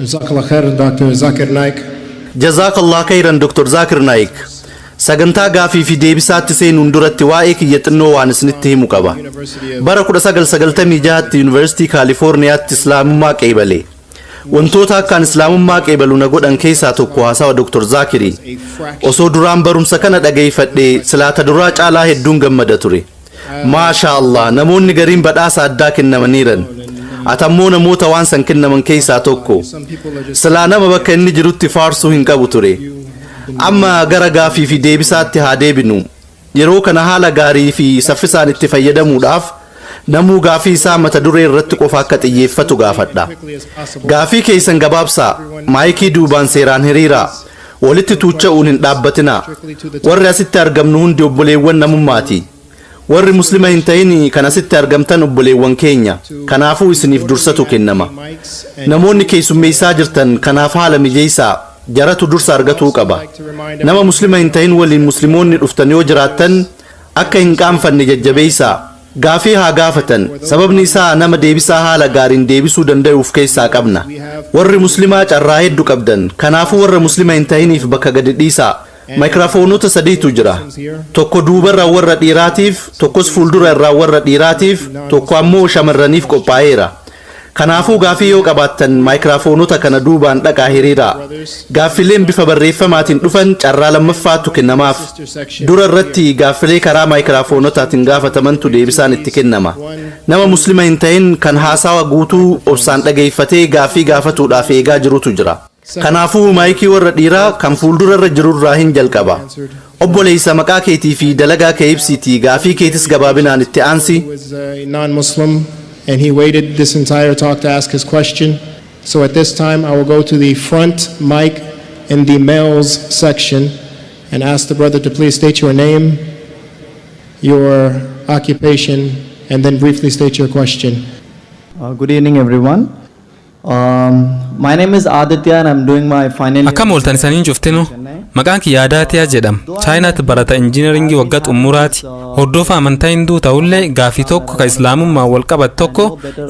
Jazakallah khair Dr. Zakir Naik. Jazaakallah kayran Dr. Zaakir Naayik. Sagantaa gaafii fi deebisaatti seenuun duratti waa'ee kiyya xinnoo waan isinitti himu qaba. Bara 1996tti Yuunivarsiitii Kaalifoorniyaatti Islaamummaa qeebale. Wantoota akkaan Islaamummaa qeebalu na godhan keessaa tokko haasawa Dr. Zaakiri. Osoo duraan barumsa kana dhageeffadhe silaa ta duraa caalaa hedduun gammada ture. Maashaa Allah namoonni gariin badhaasa addaa kennamaniiran. Atammoo namoota waan san kennaman keessaa tokko. Silaa nama bakka inni jirutti faarsuu hin qabu ture. Amma gara gaafii fi deebisaatti haa deebinu. Yeroo kana haala gaarii fi saffisaan itti fayyadamuudhaaf namuu gaafii isaa mata duree irratti qofa akka xiyyeeffatu gaafadha. Gaafii keessan gabaabsaa, maayikii duubaan seeraan hiriiraa. Walitti tuucha'uun hin dhaabbatinaa. Warri asitti argamnu hundi obboleewwan namummaati. Warri Muslima hin ta'in kan asitti argamtan obboleewwan keenya. Kanaafuu isiniif dursatu kennama. Namoonni keessummeessaa jirtan kanaaf haala mijeessaa. Jaratu dursa argatuu qaba. Nama Muslima hin ta'in waliin Muslimoonni dhuftan yoo jiraattan akka hin qaanfanne jajjabeessaa. Gaafii haa gaafatan sababni isaa nama deebisaa haala gaariin deebisuu dandayu uf keessaa qabna. Warri muslimaa carraa heddu qabdan kanaafu warra muslima hin tahiniif bakka gadi dhiisaa. Micraphoneota sadiitu jira. Tokko duubarra warra dhiiraatiif, tokkos fuuldura irraan warra dhiiraatiif, tokko ammoo shamarraniif qophaa'eera. Kanaafuu gaaffii yoo qabaattan maayikiraafoonota kana duubaan dhaqaa hiriiraa. Gaaffileen bifa barreeffamaatiin dhufan carraa lammaffaatu kennamaaf. Dura irratti gaaffilee karaa maayikiraafoonotaatiin gaafatamantu deebisaan itti kennama. Nama Muslima hin ta'in kan haasawa guutuu obsaan dhageeffatee gaaffii gaafatuudhaaf eegaa jirutu jira. Kanaafuu maayikii warra dhiiraa kan fuuldura irra jiru irraahin jalqaba. Obboleessa maqaa keetii fi dalagaa kee ibsiitii gaafii keetis gabaabinaan itti aansi. Um, my name is Aditya and I'm doing my final year. Akkam ooltan isaniin cuftinu maqaan kiyya Adaatiyaa jedham chaayinaatti barata injiinaringii waggaa xumuraati hordoofa amantaa hinduu ta'ullee gaafii tokko ka islaamummaa wal qabat tokko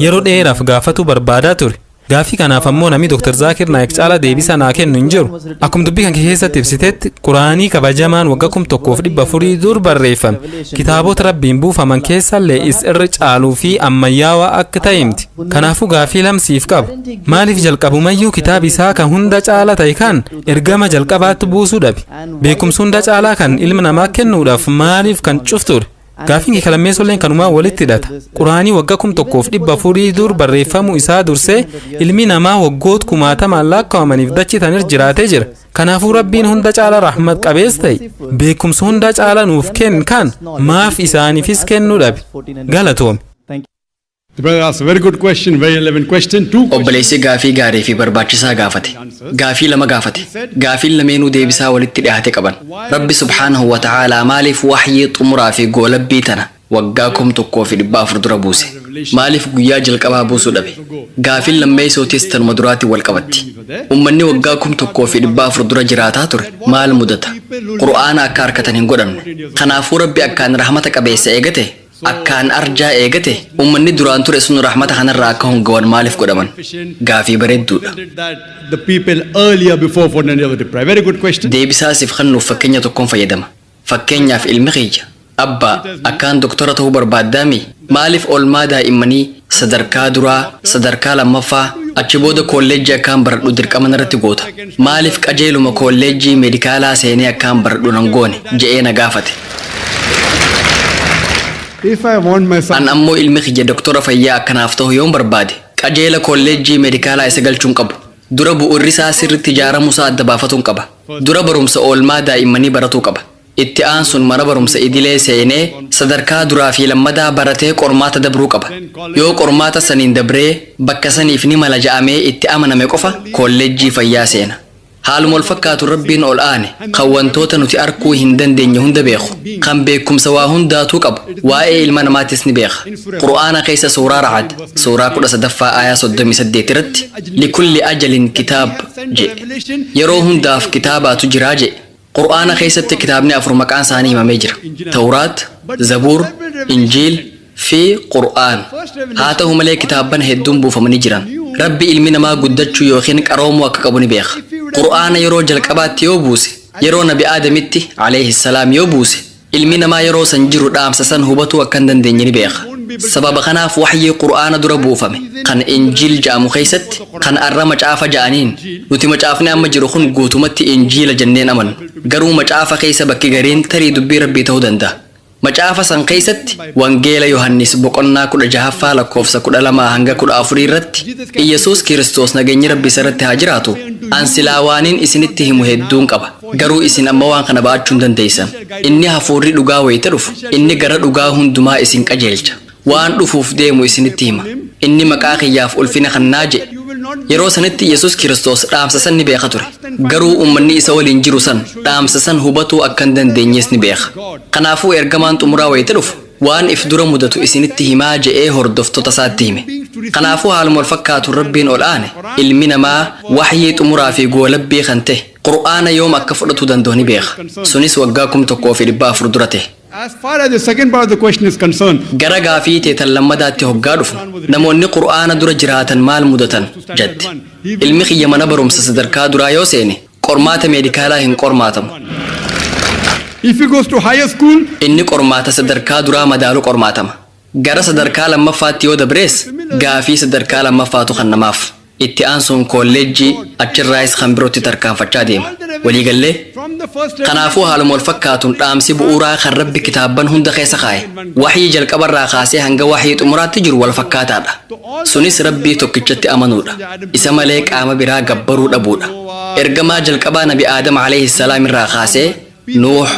yeroo dheeraaf gaafatu barbaadaa ture gaafii kanaaf ammoo namni Dr. Zaakir Naayik caalaa deebisaa naa kennu hin jiru akkuma dubbii kan keessatti ibsitetti quraanii kabajamaan waggaa kum tokkoof dhibba afurii dur barreeffame Kitaabota Rabbiin buufaman keessallee is irra caaluu fi ammayyaawaa akka ta'e himti. Kanaafuu gaafii lama siif qaba. Maaliif jalqabumayyuu kitaabi isaa kan hunda caala ta'e kan ergama jalqabaatti buusuu dhabe? Beekumsi hunda caalaa kan ilma namaa kennuudhaaf maaliif kan cufture? Gaafiin kee kalammeessolleen kanumaa walitti hidhata. Quraanii wagga kum tokkoof dhibba afurii dur barreeffamuu isaa dursee ilmi namaa waggoot kumaatamaan lakkaa'amaniif dachitanir jiraatee jira. Kanaafuu Rabbiin hunda caala rahmat qabees ta'e beekumsa hunda caala nuuf kenn kan maaf isaaniifis kennu dhabe galatoomi. The brother asked a very good question, very relevant question. Two questions. Obboleessi gaafii gaarii fi barbaachisaa gaafate. Gaafii lama gaafate. Gaafiin lameenuu deebisaa walitti dhihaate qaban. Rabbi subhaanahu wa ta'aalaa maaliif wahyii xumuraa fi goolabbii tana waggaa kum tokkoo fi dhibba afur dura buuse. Maaliif guyyaa jalqabaa buusuu dhabe? Gaafiin lammeeysootiis tanuma duraatiin wal qabatti. Ummanni waggaa kum tokkoo fi dhibba afur dura jiraataa ture maal mudata? Qur'aana akka arkatan hin godhamne. Kanaafuu Rabbi akkaan rahmata qabeessa eega ta'e, akkaan arjaa eega ta'e, ummanni duraan ture sun rahmata kanarraa akka hongawan maaliif godhaman? Gaafii bareedduudha. Deebisaa siif kannuuf fakkenya tokkon fayyadama. Fakkeenyaaf ilmi kiyya, Abbaa, akkaan doktora ta'uu barbaaddaamii? Maaliif oolmaa daa'immanii sadarkaa duraa, sadarkaa lammaffaa, achi booda koolleejjii akkaan baradhu dirqama narratti goota? Maaliif qajeeluma koolleejjii meedikaalaa seenee akkaan baradhu nan goone? jedhee na gaafate. An ammoo ilmi kiyya doktora fayyaa akka naaf ta'u yoon barbaade, qajeela koolleejjii meedikaalaa isa galchuu hin qabu. Dura bu'uurrisaa sirriitti ijaaramuusaa adda baafatuun qaba. Dura barumsa oolmaa daa'immanii baratuu qaba. Itti aansuun mana barumsa idilee seenee sadarkaa duraafi lammadaa baratee qormaata dabruu qaba. Yoo qormaata saniin dabree bakka saniif ni mala ja'amee itti amaname qofa koollejjii fayyaa seena. Haaluma walfakkaatuun Rabbiin ol aane kan wantoota nuti arkuu hin dandeenye hunda beeku, kan beekkumsa waa hundaatuu qabu waa'ee ilma namaattis ni beeka. Qur'aana keessa suuraa Ra'ad. suuraa 13ffaa aayaa 38 irratti likulli ajalin kitaab jedhe yeroo hundaaf kitaabaatu jiraa jedhe qur'aana keessatti kitaabni afur maqaan isaanii himamee jira tawraat zabuur injiil fi qur'aan haa ta'u malee kitaabban hedduun buufamanii jiran rabbi ilmi namaa guddachuu yookiin qaroomuu akka qabu ni beeka qur'aana yeroo jalqabaatti yoo buuse yeroo nabi aadamitti alayhi salaam yoo buuse Ilmi namaa yeroo san jiru dhaamsa san hubatuu akka hin dandeenye ni beeka. Sababa kanaaf wahyii Qur'aana dura buufame, kan Injiil ja'amu keessatti, kan arra Macaafa ja'aniin, Nuti Macaafni amma jiru kun guutumatti Injiila jennee hin amannu. Garuu Macaafa keessa bakki gariin tarii dubbii Rabbii ta'uu danda'a. Macaafa san keessatti Wangeela Yohannis boqonnaa 16ffaa lakkoofsa 12-14 irratti Iyyasuus Kiristoos nageenyi Rabbi isarratti haa jiraatu, An silaa waanin isinitti himu hedduun qaba. Garuu isin amma waan kana ba'achuu hin dandeessan. Inni Hafuurri dhugaa wayita dhufu, inni gara dhugaa hundumaa isin qajeelcha. Waan dhufuuf deemu isinitti hima. Inni maqaa kiyyaaf ulfina kannaa jedhe. Yeroo sanitti Yesus Kiristos dhaamsa san ni beeka ture. Garuu ummanni isa waliin jiru san dhaamsa san hubatuu akka hin dandeenyees ni beeka. Kanaafuu ergamaan xumuraa wayita dhufu, waan if dura mudatu isinitti himaa jedhee hordoftota isaatti hime. Kanaafuu haaluma wal fakkaatuun Rabbiin ol aane, ilmi namaa wahyii xumuraa fi goolabbii kan ta'e, Qur'aana yoom akka fudhatuu danda'u ni beeka. Sunis waggaa 1400 dura tahe. As far as the second part of the question is concerned, Gara gaafii tee tan lammadaatti hoggaa dhufnu, namoonni Qur'aana dura jiraatan maal mudatan? jatte. Ilmi kiyya mana barumsa sadarkaa duraa yoo seene, qormaata meedikaalaa hin qormaatamu. if he goes to higher school, Inni qormaata sadarkaa duraa madaalu qormaatama. Gara sadarkaa lammaffaatti yoo dabrees gaafii sadarkaa lammaffaatu kannamaaf. Itti aansuun koolleejjii, achirraayis kan birootti tarkaanfachaa deema. Walii gallee? Kanaafuu haaluma wal fakkaatuun dhaamsi bu'uuraa kan Rabbi kitaabban hunda keessa kaa'e, wahyii jalqabarraa kaasee hanga wahyii xumuraatti jiru wal fakkaataadha. Sunis Rabbii tokkichatti amanuudha. Isa malee qaama biraa gabbaruu dhabuudha. Ergamaa jalqabaa Nabi Aadam alayhis salaam irraa kaasee Nuuh,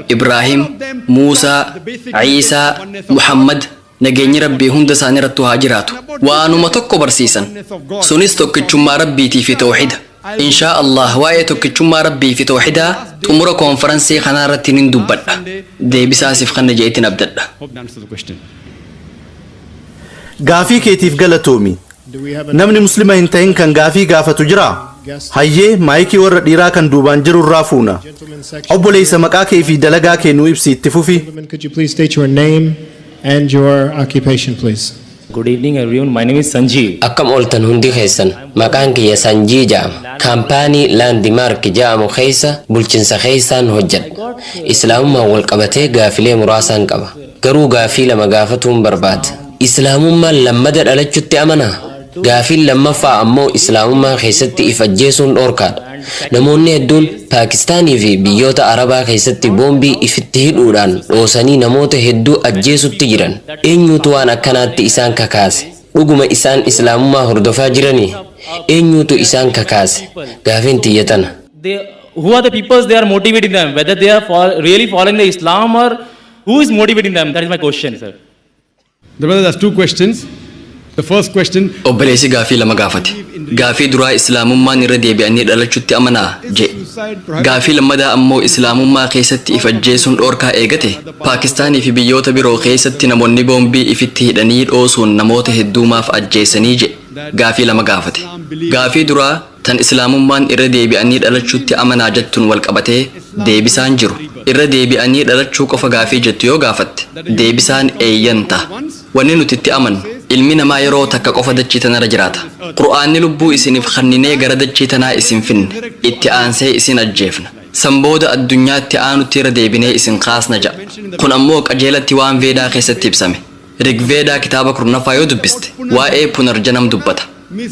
Ibraahim, Muusaa, Iisaa, Muhammad, nageenyi Rabbii hunda isaaniirrattuu haa jiraatu, waanuma tokko barsiisan. Sunis tokkichummaa Rabbiitii fi tawhiida. Inshaa Allaah waa'ee tokkichummaa Rabbii fi tawhiidaa xumura koonfaransii kanaarratti nin dubbadha. Deebisaa siif kanna je'eetin abdadha. Gaafii keetiif galatoomi. Namni muslima hin ta'in kan gaafii gaafatu jiraa? Hayyee, maayikii warra dhiiraa kan duubaan jiru irraa fuuna. Obboleessa maqaa kee fi dalagaa kee nuu ibsi itti fufi. Gentlemen, could you please state your name and your occupation, please? Good evening everyone, my name is Sanjeev. Akkam ooltan hundi keessan maqaan kiyya Sanjii ja'ama. Kaampaanii Laandimaark ja'amu keessa bulchinsa keessaan hojjedha. Islaamummaan wal qabatee gaafilee muraasaan qaba. Garuu gaaffii lama gaafatuun barbaada. Islaamummaan lammada dhalachutti amanaa? Gaaffiin lammaffaa ammoo Islaamummaa keessatti if ajjeesuun dhorkaadha. Namoonni hedduun Paakistaanii fi biyyoota Arabaa keessatti boombii ifitti hidhuudhaan dhoosanii namoota hedduu ajjeesutti jiran. Eenyuutu waan akkanaatti isaan kakaase? Dhuguma isaan Islaamummaa hordofaa jiranii? Eenyuutu isaan kakaase? Gaafiin tiyya tana. Who are the peoples they are motivating them? Whether they are really following the Islam or Who is motivating them? That is my question, sir. The brother has two questions. The first question Obboleessi gaafii lama gaafate. Gaafii duraa Islaamummaan irra deebi'anii dhalachutti amanaa? jee. Gaafii lammadaa ammoo Islaamummaa keessatti if ajjeesuun dhoorkaa eegate Paakistaanii fi biyyoota biroo keessatti namoonni boombii ifitti hidhanii dhoosuun namoota hedduu maaf ajjeesanii jee. Gaafii lama gaafate. Gaafii duraa Tan Islaamummaan irra deebi'anii dhalachuutti amanaa jettuun wal qabatee deebisaan jiru, irra deebi'anii dhalachuu qofa gaafii jettu yoo gaafatte, deebisaan eeyyan taha. Wanni nuti itti amannu, ilmi namaa yeroo takka qofa dachii tanarra jiraata. Qur'aanni lubbuu isinif kanninee gara dachii tanaa isin finne, itti aansee isin ajjeefna. San booda addunyaa itti aanutti irra deebinee isin kaasna ja'a. Kun ammoo qajeelatti waan Veedaa keessatti ibsame. Rigveedaa kitaaba kurnaffaa yoo dubbiste waa'ee Punarjanam dubbata.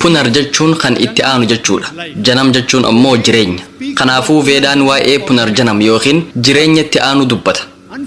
Punar jechuun kan itti aanu jechuudha. Janam jechuun ammoo jireenya. Kanaafuu Veedaan waa'ee Punarjanam ykn jireenya itti aanuu dubbata.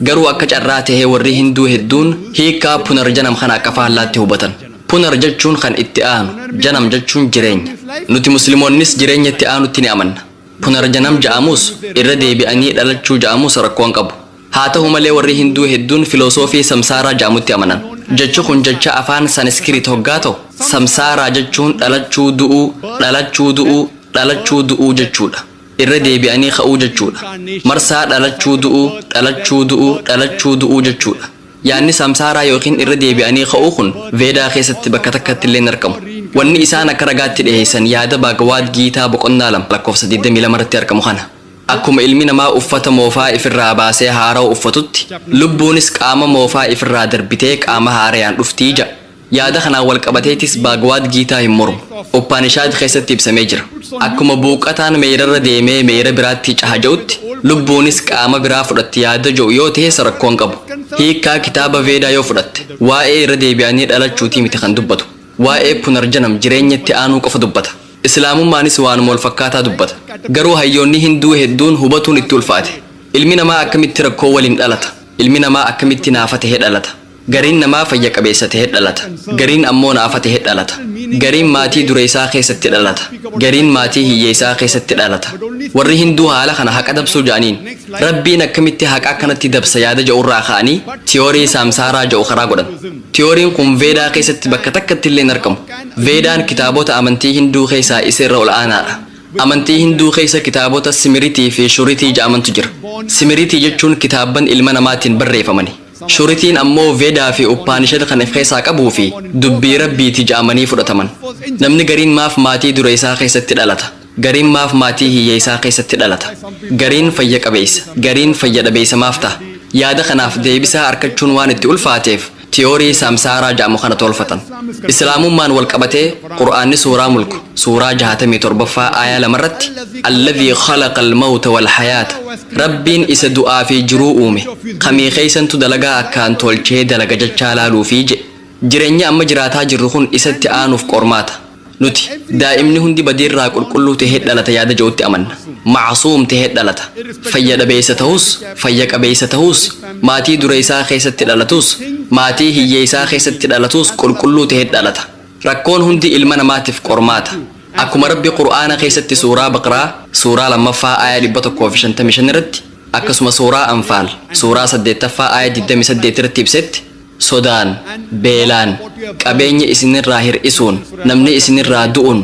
Garuu akka carraa ta'ee warri Hinduu hedduun hiikkaa Punarjanam kana akka faallaatti hubatan. Punar jechuun kan itti aanu, Janam jechuun jireenya. Nuti Muslimoonnis jireenya itti aanutti ni amanna. Punarjanam ja'amuus, irra deebi'anii dhalachuu ja'amuus rakkoon qabu. Haa tahu malee warri Hinduu hedduun filoosoofii Samsaaraa ja'amutti amanan. Jechi kun jecha afaan Sanskrit hoggaa tahu, Samsaaraa jechuun dhalachuu du'uu, dhalachuu du'uu, dhalachuu du'uu jechuudha. Irra deebi'anii ka'uu jechuudha. Marsaa dhalachuu du'uu, dhalachuu du'uu, dhalachuu du'uu jechuudha. Yaanni Samsaaraa ykn irra deebi'anii ka'uu kun Veedaa keessatti bakka takkatti illee hin argamu. Wanni isaan akka ragaatti dhiheessan yaada Bhagwad Giitaa boqonnaa 2 lakkoofsa 22 irratti argamu kana. Akkuma ilmi namaa uffata moofaa ifirraa baasee haarawa uffatutti, lubbuunis qaama moofaa ifirraa darbitee qaama haarayaan dhufti ja'a. Yaada kanaan wal qabateetis Baagwaad Giitaa hin mormu. Uppaanishaad keessatti ibsamee jira. Akkuma buuqqataan meeyrarra deemee meeyra biraatti caha ja'utti, lubbuunis qaama biraa fudhatti yaada ja'u yoo tehes rakkoo hin qabu. Hiikkaa kitaaba Veedaa yoo fudhatte, waa'ee irra deebi'anii dhalachuutii miti kan dubbatu. Waa'ee Punarjanam, jireenya itti aanuu qofa dubbata. Islaamummaanis waanuma wal fakkaataa dubbata. Garuu hayyoonni Hinduu hedduun hubatuun itti ulfaate. Ilmi namaa akkamitti rakkoo waliin dhalata? Ilmi namaa akkamitti naafa tahe dhalata? Gariin namaa fayya qabeessa tahe dhalata. Gariin ammoo naafa tahe dhalata. Gariin maatii dureessaa keessatti dhalata. Gariin maatii hiyyeessaa keessatti dhalata. Warri Hinduu haala kana haqa dabsuu ja'aniin. Rabbiin akkamitti haqa akkanatti dabsa yaada ja'urraa ka'anii tiyoorii Saamsaaraa ja'u karaa godhan. Tiyooriin kun Veedaa keessatti bakka takkattillee hin argamu. Veedaan kitaabota amantii Hinduu keessaa isa irra ol aanaadha. Amantii Hinduu keessa kitaabota Simiritii fi Shuritii ja'amantu jira. Simiritii jechuun kitaabban ilma namaatiin barreefamani. Shuritiin ammoo Vedaa fi Uppaanishad kan if keessaa qabuu fi dubbii Rabbiiti ja'amanii fudhataman. Namni gariin maaf maatii dureessaa keessatti dhalata? Gariin maaf maatii hiyyeessaa keessatti dhalata? Gariin fayya qabeessa, gariin fayya dhabeessa maaf taha? Yaada kanaaf deebisaa arkachuun waan itti ulfaateef tiyoorii saamsaaraa ja'amu kana toolfatan. Islaamummaan wal qabatee Qur'aanni suuraa Mulk suuraa jahaatamii torbaffaa aayaa lama irratti Alladhii khalaqal mawta wal hayaata Rabbiin isa du'aa fi jiruu uume kamii keessantu dalagaa akkaan toolchee dalaga jechaa laaluufi je'e. Jireenyi amma jiraataa jirru kun isatti aanuuf qormaata. Nuti, daa'imni hundi badiirraa qulqulluu tahee dhalata yaada je'utti amanna. Ma'asuum tahee dhalata. Fayya dhabeeysa tahus, fayya qabeeysa tahus, maatii dureeysaa keessatti dhalatus, maatii hiyyeeysaa keessatti dhalatus qulqulluu tahee dhalata. Rakkoon hundi ilma namaatiif qormaata. Akkuma Rabbi Qur'aana keessatti Suuraa Baqraa, Suuraa 2ffaa aayah 155 irratti, akkasuma Suuraa Anfaal, Suuraa 8ffaa aayah 28 irratti ibsetti, sodaan, beelaan, qabeenya isinirraa hir'isuun, namni isinirraa du'uun,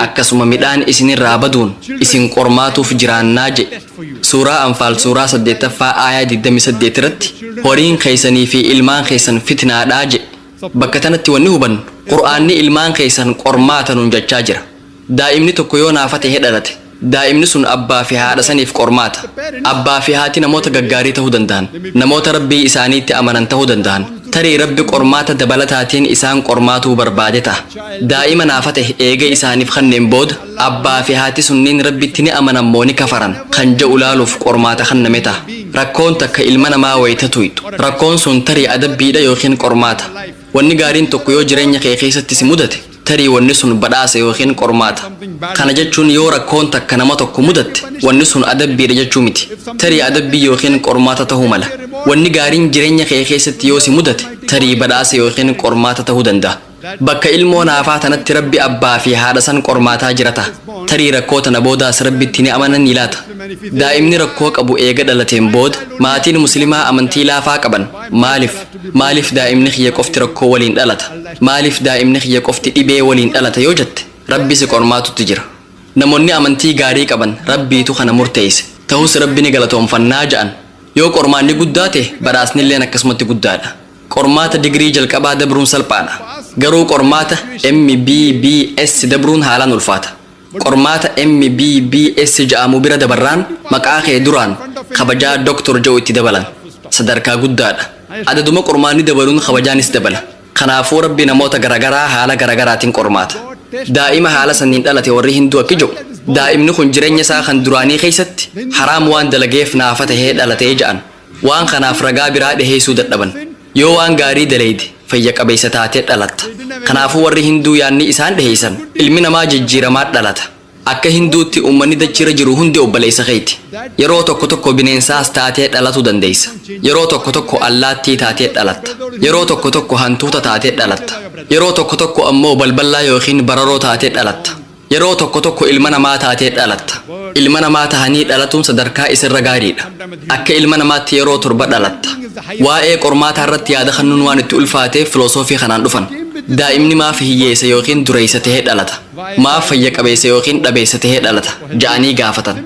akkasuma midhaan isinirraa baduun isin qormaatuuf jiraannaa je'e. Suuraa Anfaal suuraa 8ffaa aayah 28 irratti horiin keessanii fi ilmaan keessan fitnaadha je'e. Bakka tanatti wanni hubannu, Qur'aanni ilmaan keessan qormaata nuun jachaa jira. Daa'imni tokko yoo naafa ta'ee dhalate, daa'imni sun abbaa fi haadha saniif qormaata. Abbaa fi haati namoota gaggaarii ta'uu danda'an, namoota Rabbii isaaniitti amanan ta'uu danda'an. Tarii Rabbi qormaata dabalataatiin isaan qormaatuu barbaade ta'a. Daa'ima naafa ta'e eega isaaniif kanneen booda, abbaa fi haati sunniin Rabbitti ni amanan moo ni kafaran? kan ja'u laaluuf qormaata kanname ta'a. Rakkoon takka ilma namaa wayta tuyxu, rakkoon sun tarii adabbiidha ykn qormaata. Wanni gaariin tokko yoo jireenya kee keessatti si mudate, tarii wanni sun badhaasa ykn qormaata. Kana jechuun yoo rakkoon takka nama tokko mudatte, wanni sun adabbiidha jechuu miti. Tarii adabbii ykn qormaata ta'uu mala. Wanni gaariin jireenya kee keessatti yoo si mudate, tarii badhaasa ykn qormaata ta'uu danda'a. Bakka ilmoo naafaa tanatti Rabbi abbaa fi haadha san qormaataa jira ta'a. Tarii rakkoo tana boodaas Rabbitti ni amananii laata? Daa'imni rakkoo qabu eega dhalateen booda, maatiin Muslimaa amantii laafaa qaban. Maalif? Maaliif daa'imni kiyya qofti rakkoo waliin dhalata? Maaliif daa'imni kiyya qofti dhibee waliin dhalata yoo jette, Rabbi si qormaatutti jira. Namonni amantii gaarii qaban Rabbiitu kana murteeyse. Tahus Rabbi ni galatoomfannaa ja'an. Yoo qormaanni guddaa tahe badhaasnilleen akkasumatti guddaadha. Qormaata digirii jalqabaa dabruun salphaadha. Garuu qormaata MBBS dabruun haalaan ulfaata. Qormaata MBBS ja'amu bira dabarraan maqaa kee duraan kabajaa Doktor ja'u itti dabalan. Sadarkaa guddaadha. Adaduma qormaanni dabaluun kabajaa nis dabala. Kanaafuu Rabbi namoota garagaraa haala garagaraatin qormaata. Daa'ima haala sanniin dhalate warri Hinduu akki ja'u, daa'imni kun jirenya isaa kan duraanii keessatti haraam waan dalageef naafa tahee dhalate ja'an. Waan kanaaf ragaa biraa dhiheessuu dadhaban. Yoo waan gaarii dalayde fayya qabeessa taatee dhalatta. Kanaafuu warri Hinduu yaadni isaan dhiheessan ilmi namaa jijjiiramaa dhalata. Akka Hinduutti uummanni dachiirra jiru hundi obboleessa keeti. Yeroo tokko tokko bineensaas taatee dhalatu dandeessa. Yeroo tokko tokko allaattii taatee dhalatta. Yeroo tokko tokko hantuuta taatee dhalatta. Yeroo tokko tokko ammoo balballaa yookiin bararoo taatee dhalatta. Yeroo tokko tokko ilma namaa taatee dhalatta. Ilma namaa tahanii dhalatuun sadarkaa isirra gaariidha. Akka ilma namaatti yeroo torba dhalatta. Waa'ee qormaataa irratti yaada kannuun waan itti ulfaateef filosoofii kanaan dhufan. Daa'imni maaf hiyyeessa ykn dureessa tahee dhalata? Maaf fayya qabeessa ykn dhabeessa tahee dhalata? ja'anii gaafatan.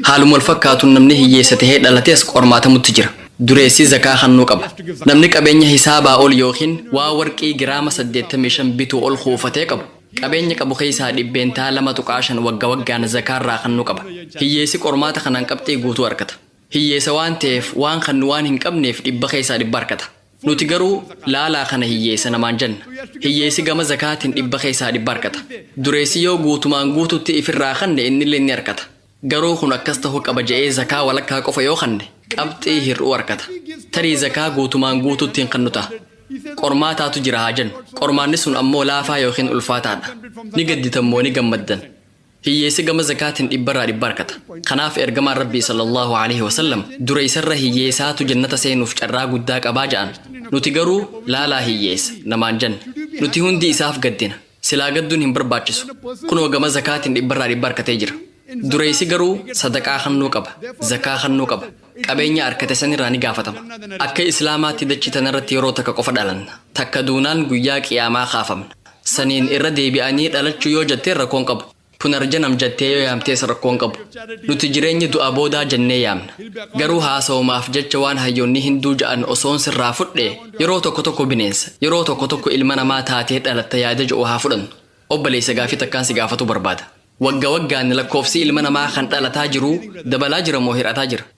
Haaluma wal fakkaatuun namni hiyyeessa tahee dhalates qormaatamutti jira. Dureessi zakaa kannuu qaba. Namni qabeenya hisaabaa ol ykn waa warqii giraama saddeettamii shan bituu ol kuufatee qabu, Qabeenya qabu keessaa dhibbeentaa 2.5 wagga waggaan zakaa irraa kannu qaba. Hiyyeessi qormaata kanaan qabxii guutuu arkata. Hiyyeessa waan ta'eef waan kannu waan hin qabneef dhibba keessaa dhibba arkata. Nuti garuu laalaa kana hiyyeessa namaan janna. Hiyyeessi gama zakaatiin dhibba keessaa dhibba arkata. Dureessi yoo guutumaan guututti ifirraa kanne innilleen ni arkata. Garuu kun akkas tahu qaba ja'ee zakaa walakkaa qofa yoo kanne qabxii hir'uu arkata. Tarii zakaa guutumaan guutuutti hin kannu taha. Qormaataatu jira haa jennu. Qormaanni sun ammoo laafaa yookiin ulfaataa dha. Ni gadditan moo ni gammaddan? Hiyyeessi gama zakaatiin dhibbarraa dhibba arkata. Kanaaf ergamaan Rabbii sallallahu aleyhi wasallam dura isarra hiyyeesaatu jannata seenuuf carraa guddaa qabaa ja'an. Nuti garuu laalaa hiyyeessa namaan janna. Nuti hundi isaaf gaddina. Silaa gadduun hin barbaachisu. Kunoo gama zakaatiin dhibbarraa dhibba arkatee jira. Dureessi garuu sadaqaa kannuu qaba, zakaa kannuu qaba. Qabeenya arkate sanirraa ni gaafatama. Akka Islaamaatti dachii tanarratti yeroo takka qofa dhalanna. Takka duunaan guyyaa qiyaamaa kaafamna. Saniin irra deebi'anii dhalachuu yoo jatteen rakkoon qabu. Punarjanam jattee yoo yaamtees rakkoo hin qabu. Nuti jireenya du'a boodaa jennee yaamna. Garuu haasawumaaf jecha waan hayyoonni Hinduu ja'an osoon sirraa fudhe yeroo tokko tokko bineensa, yeroo tokko tokko ilma namaa taatee dhalatta yaada ja'u haa fudhannu. Obbaleeysa gaafii takkaan si gaafatuu barbaada. Wagga waggaan lakkoofsi ilma namaa kan dhalataa jiruu dabalaa jira moo hir'ataa jira?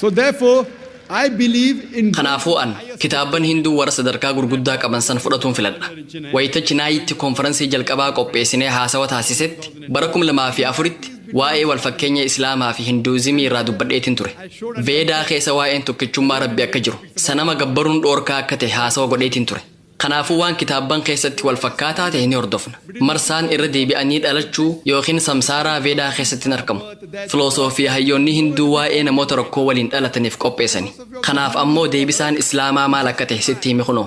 So therefore, I believe in Kanaafuu an, kitaabban Hinduu warra sadarkaa gurguddaa qaban san fudhatuun filadha. Wayita Chinaayitti konfaransii jalqabaa qopheessinee haasawa taasisetti, bara 2004tti, waa'ee walfakkeenya Islaamaa fi Hinduuzimii irraa dubbadheetin ture. Veedaa keessa waa'een tokkichummaa Rabbi akka jiru, sanama gabbaruun dhoorkaa akka ta'e haasawa godheetin ture. Kanaafuu waan kitaabban keessatti wal fakkaataa ta'e ni hordofna. Marsaan irra deebi'anii dhalachuu ykn samsaaraa Veedaa keessatti hin argamu. Filoosoofii hayyoonni Hinduu waa'ee namoota rakkoo waliin dhalataniif qopheessani. Kanaaf ammoo deebisaan Islaamaa maal akka ta'e sitti hime kunoo.